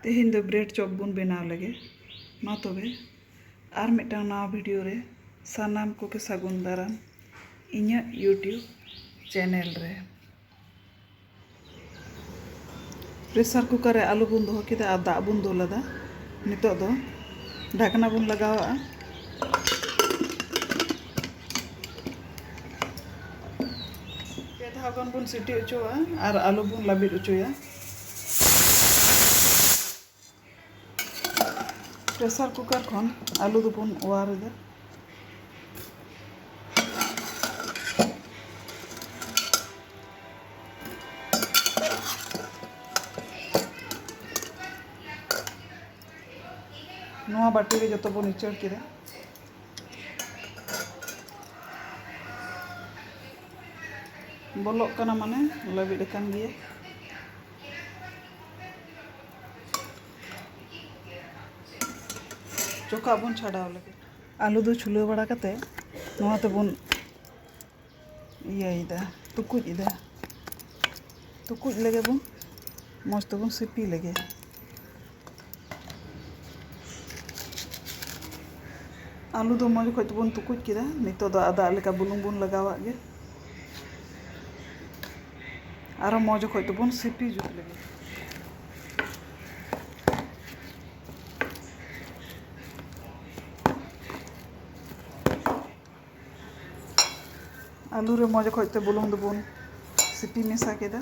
ᱛᱮᱦᱮᱧ ᱫᱚ bread chop ᱵᱚᱱ ᱵᱮᱱᱟᱣ ᱞᱮᱜᱮ ᱢᱟ ᱛᱚᱵᱮ ᱟᱨ ᱢᱤᱫᱴᱟᱝ ᱱᱟᱣᱟ ᱵᱷᱤᱰᱤᱭᱳ ᱨᱮ ᱥᱟᱱᱟᱢ ᱠᱚᱜᱮ ᱥᱟᱹᱜᱩᱱ ᱫᱟᱨᱟᱢ ᱤᱧᱟᱹᱜ ᱤᱭᱩᱴᱤᱭᱩᱵᱽ ᱪᱮᱱᱮᱞ ᱨᱮ ᱯᱨᱮᱥᱟᱨ ᱠᱩᱠᱟᱨ ᱨᱮ ᱟᱞᱩ ᱵᱚᱱ ᱫᱚᱦᱚ ᱠᱮᱫᱟ ᱟᱨ ᱫᱟᱜ ᱵᱚᱱ ᱫᱩᱞ ᱟᱫᱟ ᱱᱤᱛᱚᱜ ᱫᱚ ᱰᱷᱟᱠᱱᱟ ᱵᱚᱱ ᱞᱟᱜᱟᱣᱟᱜᱼᱟ ᱯᱮ ᱫᱷᱟᱣ ᱜᱟᱱ ᱵᱚᱱ ᱥᱤᱴᱤ ᱚᱪᱚᱣᱟᱜᱼᱟ ᱟᱨ ᱟᱹᱞᱩ ᱵᱚᱱ ᱞᱟᱹᱵᱤᱫ ᱚᱪᱚᱭᱟ ᱯᱨᱮᱥᱟᱨ ᱠᱩᱠᱟᱨ ᱠᱷᱚᱱ ᱟᱹᱞᱩ ᱫᱚᱵᱚᱱ ᱚᱣᱟᱨ ᱮᱫᱟ ᱱᱚᱣᱟ ᱵᱟᱹᱴᱤ ᱨᱮ ᱡᱚᱛᱚ ᱵᱚᱱ ᱩᱪᱟᱹᱲ ᱠᱮᱫᱟ ᱵᱚᱞᱚᱜ ᱠᱟᱱᱟ ᱢᱟᱱᱮ ᱞᱟᱹᱵᱤᱫ ᱟᱠᱟᱱ ᱜᱮᱭᱟ ᱪᱚᱠᱟᱜ ᱵᱚᱱ ᱪᱷᱟᱰᱟᱣ ᱞᱮᱜᱮ ᱟᱹᱞᱩ ᱫᱚ ᱪᱷᱩᱞᱟᱹᱣ ᱵᱟᱲᱟ ᱠᱟᱛᱮ ᱱᱚᱣᱟ ᱛᱮᱵᱚᱱ ᱤᱭᱟᱹᱭᱮᱫᱟ ᱛᱩᱠᱩᱡ ᱮᱫᱟ ᱛᱩᱠᱩᱡ ᱞᱮᱜᱮ ᱵᱚᱱ ᱢᱚᱡᱽ ᱛᱮᱵᱚᱱ ᱥᱤᱯᱤ ᱞᱮᱜᱮ ᱟᱹᱞᱩ ᱫᱚ ᱢᱚᱡᱽ ᱠᱷᱚᱡ ᱛᱮᱵᱚᱱ ᱛᱩᱠᱩᱡ ᱠᱮᱫᱟ ᱱᱤᱛᱚᱜ ᱫᱚ ᱟᱫᱟ ᱞᱮᱠᱟ ᱵᱩᱞᱩᱝ ᱵᱚᱱ ᱞᱟᱜᱟᱣᱟᱜ ᱜᱮ ᱟᱨᱚ ᱢᱚᱡᱽ ᱠᱷᱚᱡ ᱛᱮᱵᱚᱱ ᱥᱤᱯᱤ ᱡᱩᱛ ᱞᱮᱜᱮ ᱟᱹᱞᱩ ᱨᱮ ᱢᱚᱡᱽ ᱚᱠᱚᱡ ᱛᱮ ᱵᱩᱞᱩᱝ ᱫᱚᱵᱚᱱ ᱥᱤᱯᱤ ᱢᱮᱥᱟ ᱠᱮᱫᱟ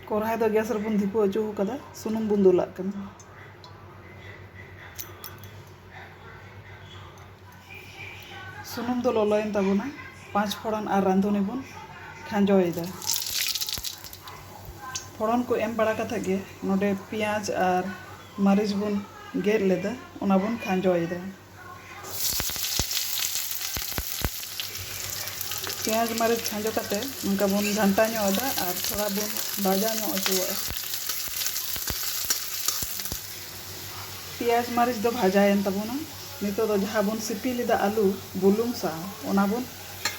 ᱠᱚᱨᱦᱟᱭ ᱫᱚ ᱜᱮᱥ ᱨᱮᱵᱚᱱ ᱫᱷᱤᱯᱟᱹ ᱦᱚᱪᱚ ᱟᱠᱟᱫᱟ ᱥᱩᱱᱩᱢ ᱵᱚᱱ ᱫᱩᱞᱟᱜ ᱠᱟᱱᱟ ᱥᱩᱱᱩᱢ ᱫᱚ ᱞᱚᱞᱚᱭᱮᱱ ᱛᱟᱵᱚᱱᱟ ᱯᱟᱸᱪ ᱯᱷᱚᱲᱚᱱ ᱟᱨ ᱨᱟᱸᱫᱷᱩᱱᱤ ᱵᱚᱱ ᱠᱷᱟᱸᱡᱚᱭᱮᱫᱟ ᱯᱷᱚᱲᱚᱱ ᱠᱚ ᱮᱢ ᱵᱟᱲᱟ ᱠᱟᱛᱮ ᱜᱮ ᱱᱚᱰᱮ ᱯᱮᱸᱭᱟᱡᱽ ᱟᱨ ᱢᱟᱹᱨᱤᱪ ᱵᱚᱱ ᱜᱮᱫ ᱞᱮᱫᱟ ᱚᱱᱟ ᱵᱚᱱ ᱠᱷᱟᱸᱡᱚᱭᱮᱫᱟ ᱯᱮᱸᱭᱟᱡᱽ ᱢᱟᱹᱨᱤᱪ ᱠᱷᱟᱸᱡᱚ ᱠᱟᱛᱮ ᱱᱚᱝᱠᱟ ᱵᱚᱱ ᱜᱷᱟᱱᱴᱟ ᱧᱚᱜ ᱮᱫᱟ ᱟᱨ ᱛᱷᱚᱲᱟ ᱵᱚᱱ ᱵᱷᱟᱡᱟ ᱧᱚᱜ ᱦᱚᱪᱚᱣᱟᱜᱼᱟ ᱯᱮᱸᱭᱟᱡᱽ ᱢᱟᱹᱨᱤᱪ ᱫᱚ ᱵᱷᱟᱡᱟᱭᱮᱱ ᱛᱟᱵᱚᱱᱟ ᱱᱤᱛᱚᱜ ᱫᱚ ᱡᱟᱦᱟᱸ ᱵᱚᱱ ᱥᱤᱯᱤ ᱞᱮᱫᱟ ᱟᱹᱞᱩ ᱵᱩᱞᱩᱝ ᱥᱟᱶ ᱚᱱᱟ ᱵᱚᱱ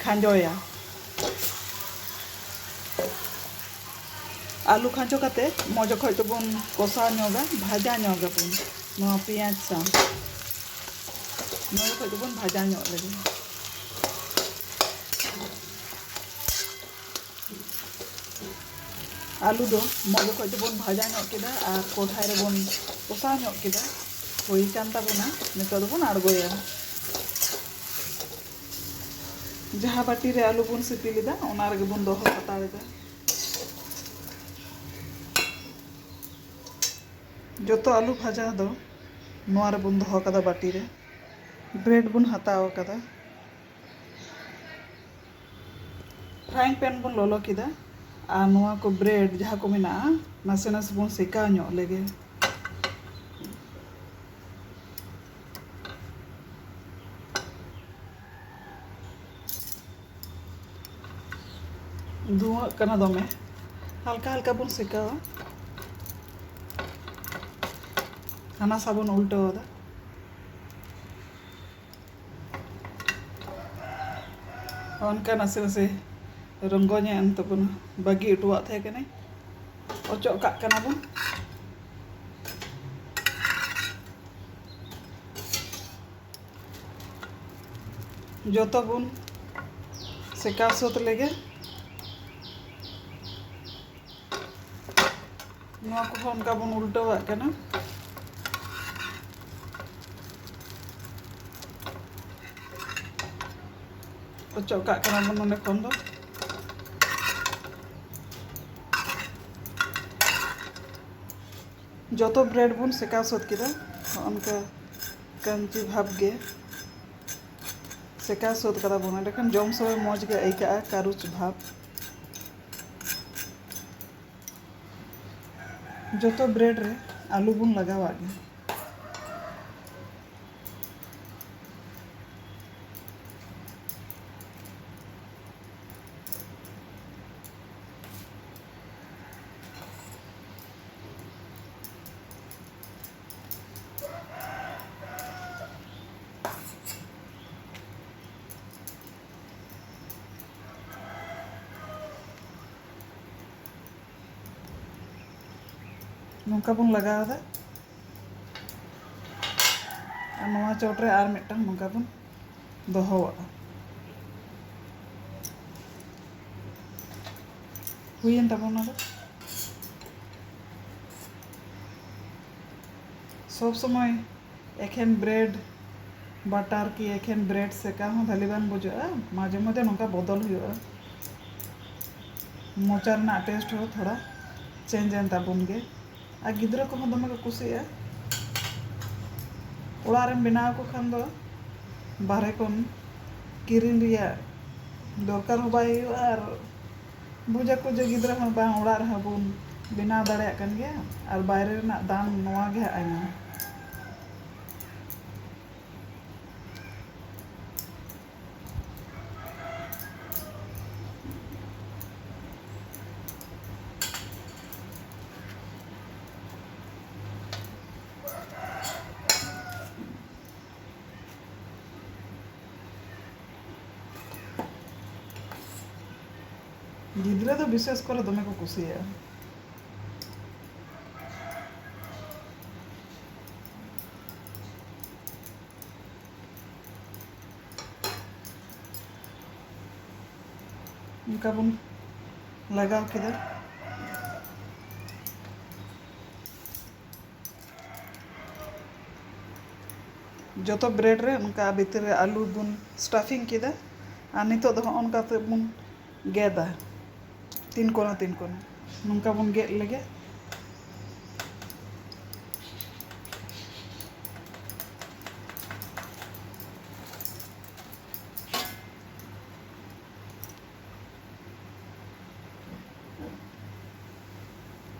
ᱠᱷᱟᱸᱡᱚᱭᱟ ᱟᱹᱞᱩ ᱠᱷᱟᱸᱡᱚ ᱠᱟᱛᱮ ᱢᱚᱡᱽ ᱚᱠᱚᱡ ᱛᱮᱵᱚᱱ ᱠᱚᱥᱟᱣ ᱧᱚᱜᱟ ᱵᱷᱟᱡᱟ ᱧᱚᱜ ᱟᱵᱚᱱ ᱱᱚᱣᱟ ᱯᱮᱸᱭᱟᱡᱽ ᱥᱟᱶ ᱢᱚᱡᱽ ᱚᱠᱚᱡ ᱛᱮᱵᱚᱱ ᱵᱷᱟᱡᱟ ᱧᱚᱜ ᱞᱮᱜᱮ ᱟᱹᱞᱩ ᱫᱚ ᱢᱚᱡᱽ ᱚᱠᱚᱡ ᱛᱮᱵᱚᱱ ᱵᱷᱟᱡᱟ ᱧᱚᱜ ᱠᱮᱫᱟ ᱟᱨ ᱠᱚᱲᱦᱟᱭ ᱨᱮᱵᱚᱱ ᱠᱚᱥᱟᱣ ᱧᱚᱜ ᱠᱮᱫᱟ ᱦᱩᱭ ᱠᱟᱱ ᱛᱟᱵᱚᱱᱟ ᱱᱤᱛᱚᱜ ᱫᱚᱵᱚᱱ ᱟᱬᱜᱚᱭᱟ ᱡᱟᱦᱟᱸ ᱵᱟᱹᱴᱤ ᱨᱮ ᱟᱹᱞᱩ ᱵᱚᱱ ᱥᱤᱯᱤ ᱞᱮᱫᱟ ᱚᱱᱟ ᱨᱮᱜᱮ ᱵᱚᱱ ᱫᱚᱦᱚ ᱦᱟᱛᱟᱲ ᱮᱫᱟ ᱡᱚᱛᱚ ᱟᱹᱞᱩ ᱵᱷᱟᱡᱟ ᱫᱚ ᱱᱚᱣᱟ ᱨᱮᱵᱚᱱ ᱫᱚᱦᱚ ᱠᱟᱫᱟ ᱵᱟᱹᱴᱤ ᱨᱮ ᱵᱨᱮᱰ ᱵᱚᱱ ᱦᱟᱛᱟᱣ ᱠᱟᱫᱟ ᱯᱷᱨᱟᱭᱤᱝ ᱯᱮᱱ ᱵᱚᱱ ᱞᱚᱞᱚ ᱠᱮᱫᱟ ᱟᱨ ᱱᱚᱣᱟ ᱠᱚ ᱵᱨᱮᱰ ᱡᱟᱦᱟᱸ ᱠᱚ ᱢᱮᱱᱟᱜᱼᱟ ᱱᱟᱥᱮ ᱱᱟᱥᱮ ᱵᱚᱱ ᱥᱮᱠᱟᱣ ᱧᱚᱜ ᱞᱮᱜᱮ ᱫᱷᱩᱣᱟᱹᱜ ᱠᱟᱱᱟ ᱫᱚᱢᱮ ᱦᱟᱞᱠᱟ ᱦᱟᱞᱠᱟ ᱵᱚᱱ ᱥᱮᱠᱟᱣᱟ ᱦᱟᱱᱟ ᱥᱟ ᱵᱚᱱ ᱩᱞᱴᱟᱹᱣ ᱮᱫᱟ ᱚᱱᱠᱟ ᱱᱟᱥᱮ ᱱᱟᱥᱮ ᱨᱚᱝᱜᱚ ᱧᱚᱜ ᱮᱱ ᱛᱟᱵᱚᱱᱟ ᱵᱟᱹᱜᱤ ᱚᱴᱚᱣᱟᱜ ᱛᱟᱦᱮᱸ ᱠᱟᱹᱱᱟᱹᱧ ᱚᱪᱚᱜ ᱠᱟᱜ ᱠᱟᱱᱟ ᱵᱚᱱ ᱡᱚᱛᱚ ᱵᱚᱱ ᱥᱮᱠᱟᱣ ᱥᱟᱹᱛ ᱞᱮᱜᱮ ᱱᱚᱣᱟ ᱠᱚᱦᱚᱸ ᱚᱱᱠᱟ ᱵᱚᱱ ᱩᱞᱴᱟᱹᱣᱟᱜ ᱠᱟᱱᱟ ᱚᱪᱚᱜ ᱠᱟᱜ ᱠᱟᱱᱟ ᱵᱚᱱ ᱱᱚᱰᱮ ᱠᱷᱚᱱ ᱫᱚ ᱡᱚᱛᱚ ᱵᱨᱮᱰ ᱵᱚᱱ ᱥᱮᱠᱟᱣ ᱥᱟᱹᱛ ᱠᱮᱫᱟ ᱚᱱᱠᱟ ᱠᱟᱹᱢᱪᱤ ᱵᱷᱟᱵᱽ ᱜᱮ ᱥᱮᱠᱟᱣ ᱥᱟᱹᱛ ᱠᱟᱫᱟ ᱵᱚᱱ ᱮᱸᱰᱮᱠᱷᱟᱱ ᱡᱚᱢ ᱥᱚᱢᱚᱭ ᱢᱚᱡᱽ ᱜᱮ ᱟᱹᱭᱠᱟᱹᱜᱼᱟ ᱠᱟᱹᱨᱩᱪ ᱵᱷᱟᱵᱽ ᱡᱚᱛᱚ ᱵᱨᱮᱰ ᱨᱮ ᱟᱹᱞᱩ ᱵᱚᱱ ᱞᱟᱜᱟᱣᱟᱜ ᱜᱮ ᱱᱚᱝᱠᱟ ᱵᱚᱱ ᱞᱟᱜᱟᱣ ᱮᱫᱟ ᱟᱨ ᱱᱚᱣᱟ ᱪᱚᱴ ᱨᱮ ᱟᱨ ᱢᱤᱫᱴᱟᱝ ᱱᱚᱝᱠᱟ ᱵᱚᱱ ᱫᱚᱦᱚᱣᱟᱜᱼᱟ ᱦᱩᱭᱮᱱ ᱛᱟᱵᱚᱱᱟ ᱫᱚ ᱥᱚᱵ ᱥᱚᱢᱚᱭ ᱮᱠᱷᱮᱱ ᱵᱨᱮᱰ ᱵᱟᱴᱟᱨ ᱠᱤ ᱮᱠᱷᱮᱱ ᱵᱨᱮᱰ ᱥᱮᱠᱟ ᱦᱚᱸ ᱵᱷᱟᱹᱞᱤ ᱵᱟᱝ ᱵᱩᱡᱷᱟᱹᱜᱼᱟ ᱢᱟᱡᱷᱮ ᱢᱚᱫᱽᱫᱷᱮ ᱱᱚᱝᱠᱟ ᱵᱚᱫᱚᱞ ᱦᱩᱭᱩᱜᱼᱟ ᱢᱚᱪᱟ ᱨᱮᱱᱟᱜ ᱴᱮᱥᱴ ᱦᱚᱸ ᱛᱷᱚᱲᱟ ᱪᱮᱧᱡᱽ ᱮᱱ ᱛᱟᱵᱚᱱ ᱜᱮ ᱟᱨ ᱜᱤᱫᱽᱨᱟᱹ ᱠᱚᱦᱚᱸ ᱫᱚᱢᱮ ᱠᱚ ᱠᱩᱥᱤᱭᱟᱜᱼᱟ ᱚᱲᱟᱜ ᱨᱮᱢ ᱵᱮᱱᱟᱣ ᱟᱠᱚ ᱠᱷᱟᱱ ᱫᱚ ᱵᱟᱦᱨᱮ ᱠᱷᱚᱱ ᱠᱤᱨᱤᱧ ᱨᱮᱭᱟᱜ ᱫᱚᱨᱠᱟᱨ ᱦᱚᱸ ᱵᱟᱭ ᱦᱩᱭᱩᱜᱼᱟ ᱟᱨ ᱵᱩᱡᱽ ᱟᱠᱚ ᱡᱮ ᱜᱤᱫᱽᱨᱟᱹ ᱦᱚᱸ ᱵᱟᱝ ᱚᱲᱟᱜ ᱨᱮᱦᱚᱸ ᱵᱚᱱ ᱵᱮᱱᱟᱣ ᱫᱟᱲᱮᱭᱟᱜ ᱠᱟᱱ ᱜᱮᱭᱟ ᱟᱨ ᱵᱟᱭᱨᱮ ᱨᱮᱱᱟᱜ ᱫᱟᱢ ᱱᱚᱣᱟ ᱜᱮ ᱦᱟᱸᱜ ᱟᱭᱢᱟ ᱜᱤᱫᱽᱨᱟᱹ ᱫᱚ ᱵᱤᱥᱮᱥ ᱠᱚᱨᱮ ᱫᱚᱢᱮ ᱠᱚ ᱠᱩᱥᱤᱭᱟᱜᱼᱟ ᱚᱱᱠᱟ ᱵᱚᱱ ᱞᱟᱜᱟᱣ ᱠᱮᱫᱟ ᱡᱚᱛᱚ ᱵᱨᱮᱰ ᱨᱮ ᱚᱱᱠᱟ ᱵᱷᱤᱛᱤᱨ ᱨᱮ ᱟᱹᱞᱩ ᱵᱚᱱ ᱥᱴᱟᱯᱷᱤᱝ ᱠᱮᱫᱟ ᱟᱨ ᱱᱤᱛᱚᱜ ᱫᱚ ᱦᱚᱸᱜᱼᱚ ᱱᱚᱝᱠᱟ ᱠᱟᱛᱮᱫ ᱵᱚᱱ ᱜᱮᱫᱟ ᱛᱤᱱ ᱠᱚᱱᱟ ᱛᱤᱱ ᱠᱚᱱᱟ ᱱᱚᱝᱠᱟ ᱵᱚᱱ ᱜᱮᱫ ᱞᱮᱜᱮ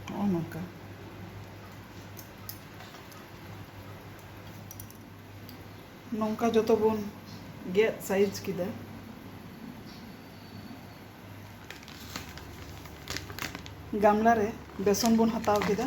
ᱱᱚᱜᱼᱚ ᱱᱚᱝᱠᱟ ᱱᱚᱝᱠᱟ ᱡᱚᱛᱚ ᱵᱚᱱ ᱜᱮᱫ ᱥᱟᱭᱤᱡᱽ ᱠᱮᱫᱟ ᱜᱟᱢᱞᱟ ᱨᱮ ᱵᱮᱥᱚᱱ ᱵᱚᱱ ᱦᱟᱛᱟᱣ ᱠᱮᱫᱟ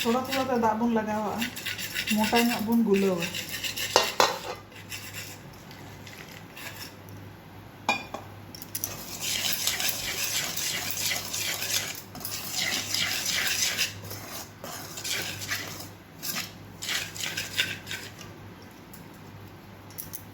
ᱛᱷᱚᱲᱟ ᱛᱷᱚᱲᱟ ᱛᱮ ᱫᱟᱜ ᱵᱚᱱ ᱞᱟᱜᱟᱣᱟᱜᱼᱟ ᱢᱚᱴᱟ ᱧᱚᱜ ᱵᱚᱱ ᱜᱩᱞᱟᱹᱣᱟ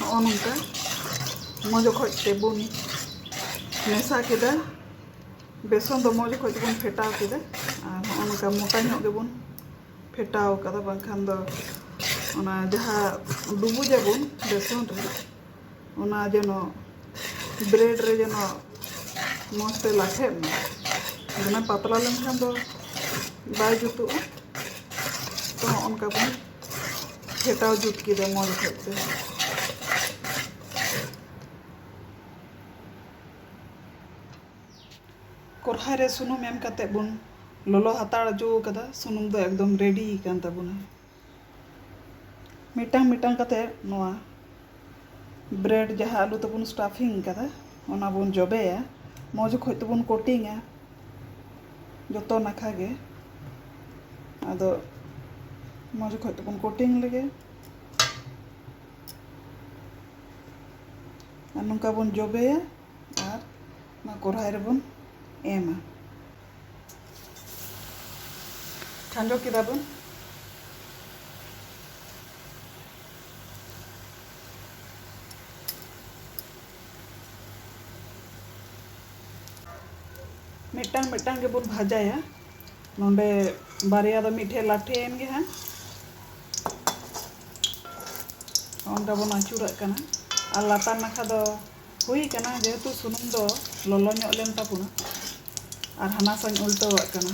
ᱱᱚᱜᱼᱚ ᱱᱚᱝᱠᱟ ᱢᱚᱡᱽ ᱚᱠᱚᱡ ᱛᱮᱵᱚᱱ ᱢᱮᱥᱟ ᱠᱮᱫᱟ ᱵᱮᱥᱚᱱ ᱫᱚ ᱢᱚᱡᱽ ᱚᱠᱚᱡ ᱛᱮᱵᱚᱱ ᱯᱷᱮᱴᱟᱣ ᱠᱮᱫᱟ ᱟᱨ ᱱᱚᱜᱼᱚ ᱱᱚᱝᱠᱟ ᱢᱚᱴᱟ ᱧᱚᱜ ᱜᱮᱵᱚᱱ ᱯᱷᱮᱴᱟᱣ ᱠᱟᱫᱟ ᱵᱟᱝᱠᱷᱟᱱ ᱫᱚ ᱚᱱᱟ ᱡᱟᱦᱟᱸ ᱰᱩᱵᱩᱡᱟᱵᱚᱱ ᱵᱮᱥᱚᱱ ᱨᱮ ᱚᱱᱟ ᱡᱮᱱᱚ ᱵᱨᱮᱰ ᱨᱮ ᱡᱮᱱᱚ ᱢᱚᱡᱽ ᱛᱮ ᱞᱟᱴᱷᱮᱜ ᱢᱟ ᱫᱚᱢᱮ ᱯᱟᱛᱞᱟ ᱞᱮᱱᱠᱷᱟᱱ ᱫᱚ ᱵᱟᱭ ᱡᱩᱛᱩᱜᱼᱟ ᱛᱚ ᱦᱚᱸᱜ ᱚᱱᱠᱟ ᱵᱚᱱ ᱯᱷᱮᱴᱟᱣ ᱡᱩᱛ ᱠᱮᱫᱟ ᱢᱚᱡᱽ ᱚᱠᱚᱡ ᱛᱮ ᱠᱚᱨᱦᱟᱭ ᱨᱮ ᱥᱩᱱᱩᱢ ᱮᱢ ᱠᱟᱛᱮ ᱵᱚᱱ ᱞᱚᱞᱚ ᱦᱟᱛᱟᱲ ᱚᱪᱚ ᱟᱠᱟᱫᱟ ᱥᱩᱱᱩᱢ ᱫᱚ ᱮᱠᱫᱚᱢ ᱨᱮᱰᱤ ᱟᱠᱟᱱ ᱛᱟᱵᱚᱱᱟ ᱢᱤᱫᱴᱟᱝ ᱢᱤᱫᱴᱟᱝ ᱠᱟᱛᱮ ᱱᱚᱣᱟ ᱵᱨᱮᱰ ᱡᱟᱦᱟᱸ ᱟᱹᱞᱩ ᱛᱮᱵᱚᱱ ᱥᱴᱟᱯᱷᱤᱝ ᱟᱠᱟᱫᱟ ᱚᱱᱟ ᱵᱚᱱ ᱡᱚᱵᱮᱭᱟ ᱢᱚᱡᱽ ᱚᱠᱚᱡ ᱛᱮᱵᱚᱱ ᱠᱳᱴᱤᱝᱟ ᱡᱚᱛᱚ ᱱᱟᱠᱷᱟ ᱜᱮ ᱟᱫᱚ ᱢᱚᱡᱽ ᱚᱠᱚᱡ ᱛᱮᱵᱚᱱ ᱠᱳᱴᱤᱝ ᱞᱮᱜᱮ ᱟᱨ ᱱᱚᱝᱠᱟ ᱵᱚᱱ ᱡᱚᱵᱮᱭᱟ ᱟᱨ ᱚᱱᱟ ᱠᱚᱨᱦᱟᱭ ᱨᱮᱵᱚᱱ ᱮᱢᱟ ᱠᱷᱟᱸᱡᱚ ᱠᱮᱫᱟ ᱵᱚᱱ ᱢᱤᱫᱴᱟᱝ ᱢᱤᱫᱴᱟᱝ ᱜᱮᱵᱚᱱ ᱵᱷᱟᱡᱟᱭᱟ ᱱᱚᱰᱮ ᱵᱟᱨᱭᱟ ᱫᱚ ᱢᱤᱫ ᱴᱷᱮᱡ ᱞᱟᱴᱷᱮᱭᱮᱱ ᱜᱮ ᱦᱟᱸᱜ ᱚᱱᱠᱟ ᱵᱚᱱ ᱟᱹᱪᱩᱨᱟᱜ ᱠᱟᱱᱟ ᱟᱨ ᱞᱟᱛᱟᱨ ᱱᱟᱠᱷᱟ ᱫᱚ ᱦᱩᱭ ᱠᱟᱱᱟ ᱡᱮᱦᱮᱛᱩ ᱥᱩᱱᱩᱢ ᱫᱚ ᱞᱚᱞᱚ ᱧᱚᱜ ᱞᱮᱱ ᱛᱟᱵᱚᱱᱟ ᱟᱨ ᱦᱟᱱᱟ ᱥᱟᱧ ᱩᱞᱴᱟᱹᱣᱟᱜ ᱠᱟᱱᱟ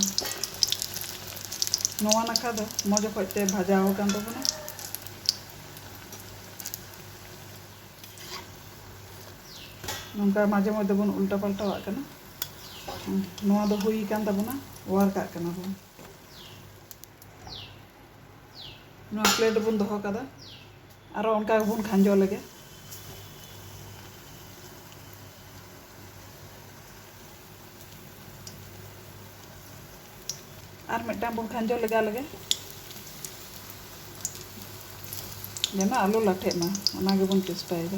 ᱱᱚᱣᱟ ᱱᱟᱠᱷᱟ ᱫᱚ ᱢᱚᱡᱽ ᱚᱠᱚᱡ ᱛᱮ ᱵᱷᱟᱡᱟᱣ ᱟᱠᱟᱱ ᱛᱟᱵᱚᱱᱟ ᱱᱚᱝᱠᱟ ᱢᱟᱡᱷᱮ ᱢᱚᱡᱽ ᱫᱚᱵᱚᱱ ᱩᱞᱴᱟ ᱯᱟᱞᱴᱟᱣᱟᱜ ᱠᱟᱱᱟ ᱱᱚᱣᱟ ᱫᱚ ᱦᱩᱭ ᱠᱟᱱ ᱛᱟᱵᱚᱱᱟ ᱚᱣᱟᱨ ᱠᱟᱜ ᱠᱟᱱᱟ ᱵᱚᱱ ᱱᱚᱣᱟ ᱯᱞᱮᱴ ᱨᱮᱵᱚᱱ ᱫᱚᱦᱚ ᱠᱟᱫᱟ ᱟᱨᱚ ᱚᱱᱠᱟ ᱜᱮᱵᱚᱱ ᱠᱷᱟᱸᱡᱚ ᱞᱮᱜᱮ ᱟᱨ ᱢᱤᱫᱴᱟᱝ ᱵᱚᱱ ᱠᱷᱟᱸᱡᱚ ᱞᱮᱜᱟ ᱞᱮᱜᱮ ᱡᱮᱱᱚ ᱟᱞᱚ ᱞᱟᱴᱷᱮᱜ ᱢᱟ ᱚᱱᱟ ᱜᱮᱵᱚᱱ ᱪᱮᱥᱴᱟᱭᱮᱫᱟ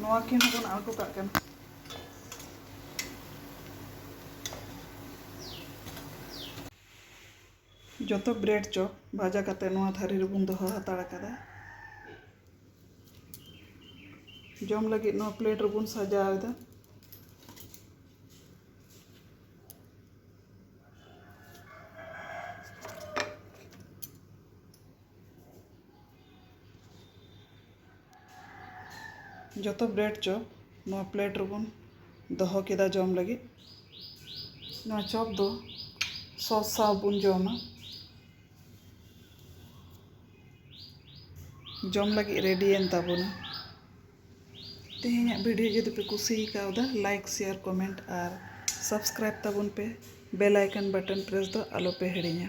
ᱱᱚᱣᱟ ᱠᱤᱱ ᱦᱚᱸᱵᱚᱱ ᱟᱬᱜᱚ ᱠᱟᱜ ᱠᱟᱱᱟ ᱡᱚᱛᱚ ᱵᱨᱮᱰ ᱪᱚᱯ ᱵᱷᱟᱡᱟ ᱠᱟᱛᱮ ᱱᱚᱣᱟ ᱛᱷᱟᱹᱨᱤ ᱨᱮᱵᱚᱱ ᱫᱚᱦᱚ ᱦᱟᱛᱟᱲ ᱟᱠᱟᱫᱟ ᱡᱚᱢ ᱞᱟᱹᱜᱤᱫ ᱱᱚᱣᱟ ᱯᱞᱮᱴ ᱨᱮᱵᱚᱱ ᱥᱟᱡᱟᱣ ᱮᱫᱟ ᱡᱚᱛᱚ ᱵᱨᱮᱰ ᱪᱚᱯ ᱱᱚᱣᱟ ᱯᱞᱮᱴ ᱨᱮᱵᱚᱱ ᱫᱚᱦᱚ ᱠᱮᱫᱟ ᱡᱚᱢ ᱞᱟᱹᱜᱤᱫ ᱱᱚᱣᱟ ᱪᱚᱯ ᱫᱚ ᱥᱚᱥ ᱥᱟᱶ ᱵᱚᱱ ᱡᱚᱢᱟ ᱡᱚᱢ ᱞᱟᱹᱜᱤᱫ ᱨᱮᱰᱤᱭᱮᱱ ᱛᱟᱵᱚᱱᱟ ᱛᱮᱦᱮᱧᱟᱜ ᱵᱷᱤᱰᱤᱭᱳ ᱡᱩᱫᱤ ᱯᱮ ᱠᱩᱥᱤ ᱠᱟᱣᱫᱟ ᱞᱟᱭᱤᱠ ᱥᱮᱭᱟᱨ ᱠᱚᱢᱮᱱᱴ ᱟᱨ ᱥᱟᱵᱥᱠᱨᱟᱭᱤᱵ ᱛᱟᱵᱚᱱ ᱯᱮ ᱵᱮᱞ ᱟᱭᱠᱚᱱ ᱵᱟᱴᱚᱱ ᱯᱨᱮᱥ ᱫᱚ ᱟᱞᱚᱯᱮ ᱦᱤᱲᱤᱧᱟ